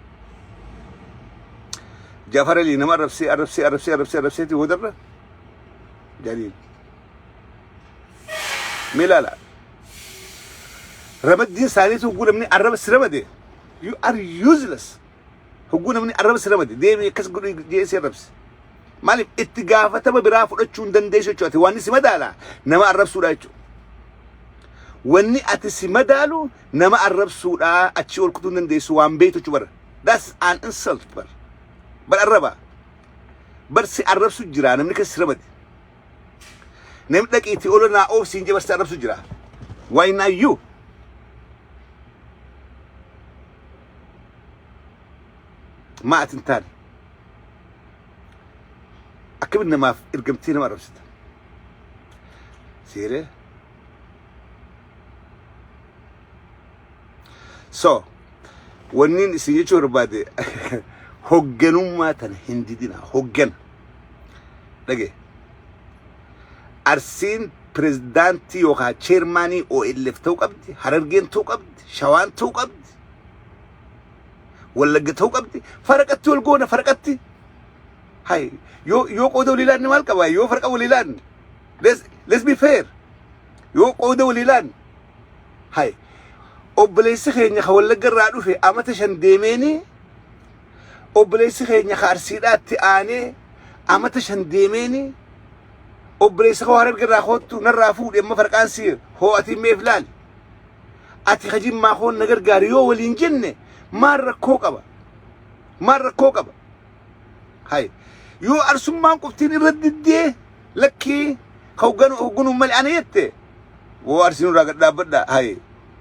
Jafar Ali nama arrabsee arrabsee arrabsee arrabsee arrabsee fi boodarra yani mee laala Ramaddiin isaaniitu hogguu namni arraba si ramade. You are useless. Hogguu namni arraba si ramade. Deemii akkas godhu jedhee si arrabse. Maaliif itti gaafatama biraa fudhachuu hin dandeessu jechuudha. Ati waan si madaala nama arrabsuudha jechuudha. Wanni ati si madaalu nama arrabsuudha achi ol kutuu hin dandeessu waan beektu jechuudha bara. That's an insult bara. Bara arraba. Bar si arrabsu jira namni kan si ramade. Namni dhaqi itti oola naa oof siin jabarsa arrabsu jira. Why not you? Maa ati hin taane. Akkamitti namaaf ergamtee nama arrabsita? Seeree? So, wanni isin jechuu barbaade hogganummaa tana hin didina. Hoggana. dhage arsiin pirezidaantii yookaan cheermaanii OLF ta'uu qabdi harargeen ta'uu qabdi shawaan ta'uu qabdi wallagga ta'uu qabdi faraqatti wal goona faraqatti hay yoo yoo qooda walii laanne maal qaba yoo farqa walii laanne let's let's be fair yoo qooda walii laanne hay obboleessi keenya ka wallagga irraa dhufe amata shan deemeeni obboleessi keenya ka arsiidhaatti aanee amata shan deemeeni obboleessa koo hararge irraa koottu narraa fuudhe amma farqaan si hoo ati meef laali ati ka jimmaa koon na gargaari yoo waliin jenne maal rakkoo qaba maal rakkoo qaba hay yoo arsummaan qoftiin irra diddee lakkii ka hogganu hogganuun malee ana jette woo arsiin irraa gad dhaabbadha hay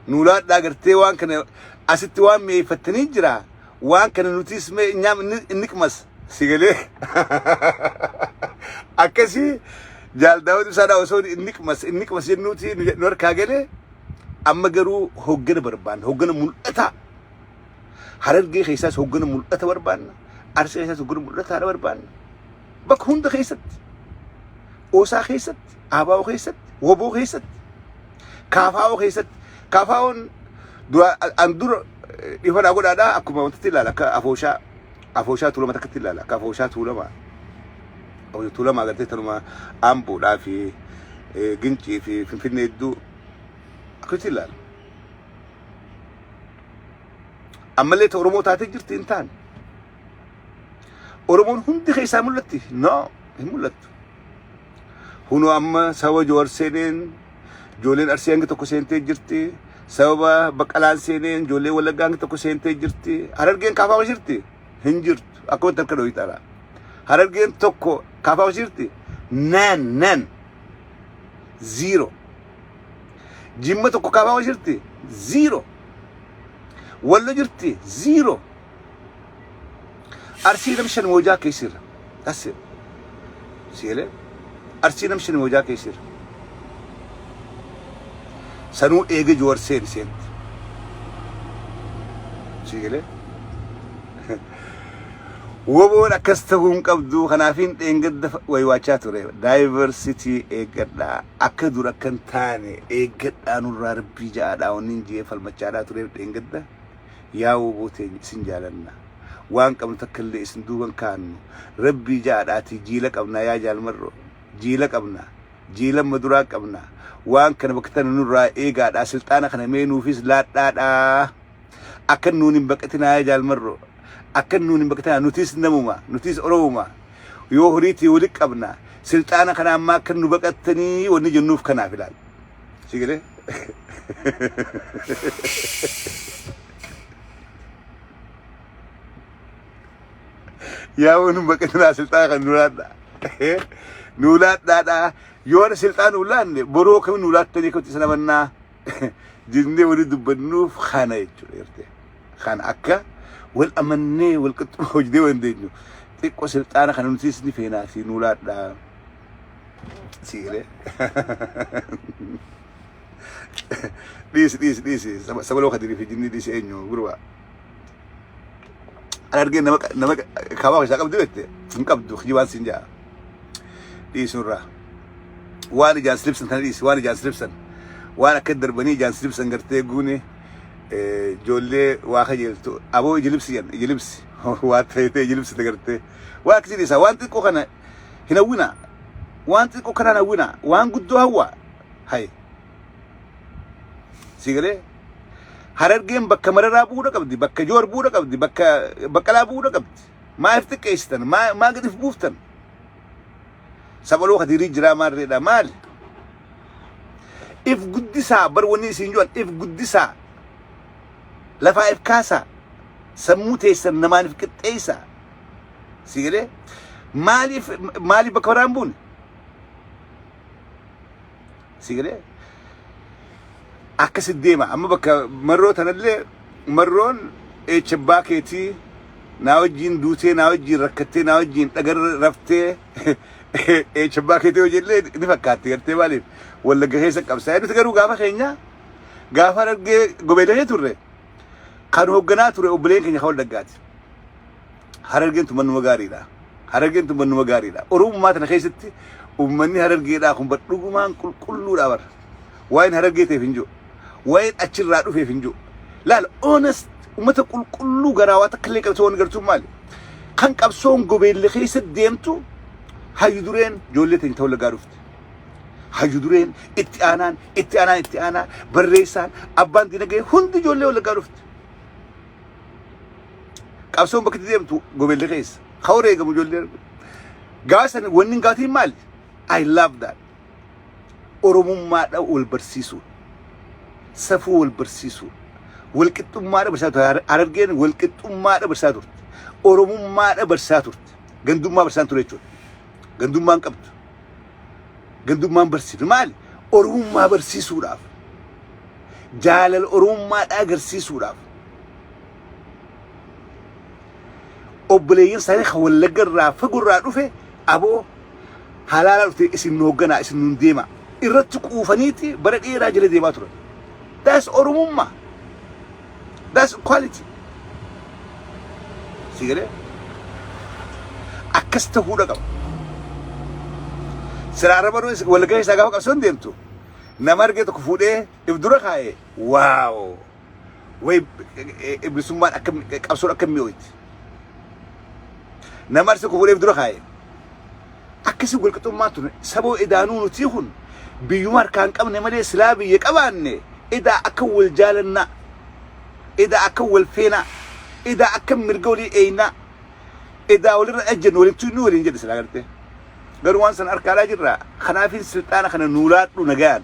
nuulaadhaa gartee waan kana asitti waan mi'eeffattanii jira waan kana nutis mee nyaam niqmas si galee akkasii jaal daawud ibsaadhaa osoo niqmas niqmas jennuuti nu nu harkaa galee amma garuu hoggana barbaanna hoggana mul'ataa harargee keessaas hoggana mul'ata barbaanna arsii keessaas hoggana mul'ataa barbaanna bakka hunda keessatti oosaa keessatti aabaa'oo keessatti woboo keessatti kaafaa'oo keessatti Kafaa'oon dura an dura dhifanaa godhaadha akkuma wantatti ilaala akka afooshaa afooshaa tuulama takkatti ilaala akka afooshaa tuulama afooshaa tuulama agartee tanuma amboodhaa fi gincii fi finfinnee hedduu akkatti ilaala. Ammallee ta Oromoo taatee jirti hin taane. Oromoon hundi keessaa mul'atti? No, hin mul'attu. Kunoo amma sababa Joowar seeneen ijoolleen Arsii hangi tokko seentee jirti. Sababa Baqqalaan seeneen ijoollee Wallaggaa hangi tokko seentee jirti. Harargeen kaafaama jirti? Hin jirtu. Akkamitti harka dhooyii taala? Harargeen tokko kaafaama jirti? Nan, nan. Zero. Jimma tokko kaafaama jirti? Zero. Wallo jirti? Zero. Arsii nam shan moojaa keessirra. That's it. Sielee. Arsii nam shan moojaa keessirra. Sanuu eege Jawar seen seent. Sielee. Woboon akkas ta'uu hin qabdu kanaafiin dheengadda waywaachaa ture. Diversity eeggadha. Akka dur akka hin taane eeggadha nurraa rabbii ja'aadha. Wanni hin jee falmachaadhaa tureef dheengadda. yaa woboo teenya isin jaalanna waan qabnu takka illee isin duuban kaannu rabbii ja'adhaatii jiila qabnaa yaa jaal marroo jiila qabna jiila amma duraa qabna waan kana bakka tana nurraa eegaadhaa silxaana kana mee nuufis laadhaadhaa akkan nuun hin baqatinaa yaa jaal marroo akkan nuun hin baqatinaa nutis namuma nutis oromuma yoo horiitii wali qabna silxaana kana ammaa akkan nu baqattanii wanni jennuuf kanaaf ilaal Si galee? Yaa waan hin baqatinaa silxaa kan nu laadhaa. Nu laadhaadhaa. Yoo na silxaa nu laanne boroo kami nu laattanii akkamitti sana mannaa jennee waliin dubbannuuf kana jechuudha jirte. Kan akka wal amannee wal qixxuma hojjennee waan dandeenyu xiqqoo silxaana kana nutis ni feenaa si nu laadhaa. siire dhiisi dhiisi dhiisi Saba- sabaloo kadirii fi jinnii dhiisi eenyu gurbaa an argee nama nama kaabaa keessaa qabdu jette hin qabdu kijibaan siin ja'a dhiisunirraa waan ijaan silibsan kana dhiisi waan ijaan silibsan waan akka darbanii ijaan silibsan gartee guune eh, ijoollee waa kajeeltu aboo ijilibsi jan ijilibsi waa ta'ee ijilibsi dagartee waa akkasii dhiisa waan xiqqoo kana hin hawwina waan xiqqoo kanaan hawwina waan guddoo hawwa hay si galee harargeen bakka mararaa bu'uudha qabdi bakka joor bu'uudha qabdi bakka baqqalaa bu'uudha qabdi maaf xiqqeessitan maa maa gadif buuftan sabaloo kadirii jiraa maarreedha maali if guddisaa bar wanni isin jedhan if guddisaa lafaa if kaasaa sammuu teessan namaan if qixxeessaa si galee maaliif maaliif bakka biraan buune si galee akkasi deema amma bakka marroo tanallee marroon eecha abbaa keetii naa wajjiin duutee naa wajjiin rakkattee naa wajjiin dhagarra raftee eecha abbaa keetii hojiillee ni fakkaatti gartee maaliif wallagga keessa qabsaa nuti garuu gaafa keenya gaafa argee gobeelee turre Kan hoogganaa ture obboleen keenya kan waldaggaati. Harargeen tun mannuma gaariidha. Harargeen tun mannuma gaariidha. Oromummaa tana keessatti uummanni harargeedhaa kun badhugumaan qulqulluudha bara. Waa'een harargee ta'eef hin jiru. Waa'een achirraa dhufeef hin jiru. Laala honest uummata qulqulluu garaa waa takka illee qabsoo waan gartuun maali? Kan qabsoon gobeelli keessa deemtu hayyu dureen ijoollee teenya ta'uu lagaa dhufte. Oromootti. Hayyu dureen itti aanaan itti aanaan itti aanaa barreessaan abbaan dinagee hundi ijoollee wallaggaa dhufti. Qabsoon bakka itti deemtu gobeellee keessa. Ka wareegamu ijoollee gaasan wanni hin gaatiin maali? I love that. Oromummaadha wal barsiisuun. safuu wal barsiisuu walqixxummaa dabarsaa turte harargeen walqixxummaa dabarsaa turte oromummaa dabarsaa turte gandummaa barsaa ture jechuudha. Gandummaan qabdu. Gandummaan barsiifne maali? Oromummaa barsiisuudhaaf. Jaalala Oromummaadhaa agarsiisuudhaaf. Obboleeyyan isaanii kan wallagga irraa fagoo irraa dhufe aboo halaala dhufte isin nu hoogganaa isin nuun deema. Irratti quufaniiti bara dheeraa jala deemaa turan. Daas Oromummaa. That's quality. Si galee? Akkas ta'uudha qaba. Silaa arraba du'e walgahii isaa gaafa qabsoon deemtu nama argee tokko fuudhee if dura kaa'ee waaw way bilisummaan akka qabsoon akka mi'ooyti. nama arsi kufuleef dura kaa'e akkasi walqixummaa tun saboo edaanuu nutii kun biyyuma harkaa hin qabne malee silaa biyya qabaanne edaa akka wal jaalannaa edaa akka wal feenaa edaa akka mirga walii eeynaa edaa walirra ajjennu walittuu inni waliin jedhe silaa gartee garuu waan san harkaadhaa jirra kanaafin silxaana kana nuulaadhu nagaan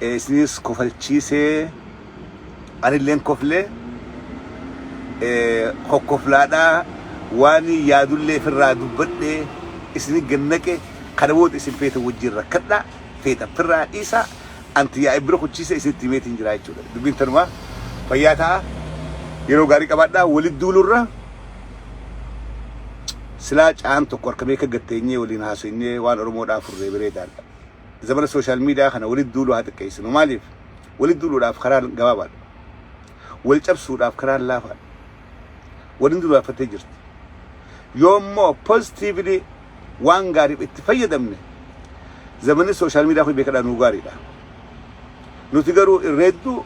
isiniis kofalchiisee anilleen koflee kokkoflaadhaa waan yaadullee firraa dubbadhee isini gannaqe kana booda isin feetan wajjin rakkadhaa feetan firraa dhiisaa anti yaa ibbira kuchiisee isinitti himeetiin jiraa jechuudha dubbiin tanumaa fayyaa ta'a yeroo gaarii qabaadhaa walitti duulurra silaa caan tokko harka beeka gatteenyee waliin haaseenyee waan oromoodhaa furree bireedaadha. zabana social media kana walitti duuluu haa xiqqeessinu. Maaliif? Walitti duuluudhaaf karaan gabaabaadha. Wal cabsuudhaaf karaan laafaadha. Waliin duraaffattee jirti. Yoo immoo positively waan gaariif itti fayyadamne zamanni social media kun beekadhaa nuu gaariidha. Nuti garuu irra hedduu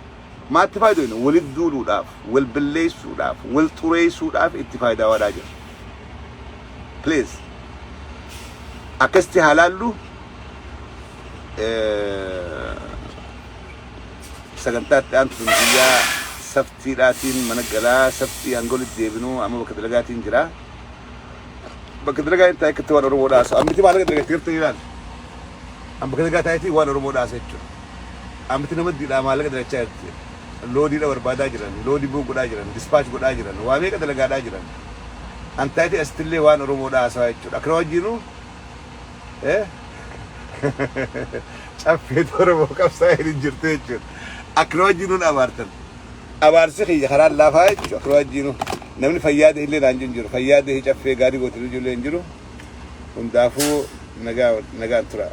Maatti faaydoyna walitt duuluudhaaf, wal billeessuudhaaf, wal xureessuudhaaf itti faaydaawaadhaa jirra. Please akkasitti haa laallu sagantaa itti aantu sun guyyaa saftiidhaatiin mana galaa saftii hanga walitt deebinu amma bakka dalagaatiin jira. Bakka dalagaa hin taa'e akka itti waan Oromoo dhaasu ammiti maalaqa dalaga itti gartanii laal. An bakka dalagaa taa'etii waan Oromoo dhaasa jechuudha. Amti nama didhaa maallaqa dalachaa jirti. Loadii dha barbaadaa jiran, load book godhaa jiran, dispatch godhaa jiran, waa meeqa dalagaadhaa jiran. Antaayitii asittillee waan Oromoo dhaa haasawaa jechuudha. Akkana wajjiinuu Caffeetu Oromoo qabsaa'een hin jirtu jechuudha. Akkana wajjiinuu na abaartan. Abaarsi kiyya karaan laafaa jechuudha. Akkana wajjiinuu namni fayyaa ta'e illee naan jiru hin jiru. Fayyaa ta'e Caffee gaarii goote illee hin jiru. Hundaafuu nagaa nagaan turaa.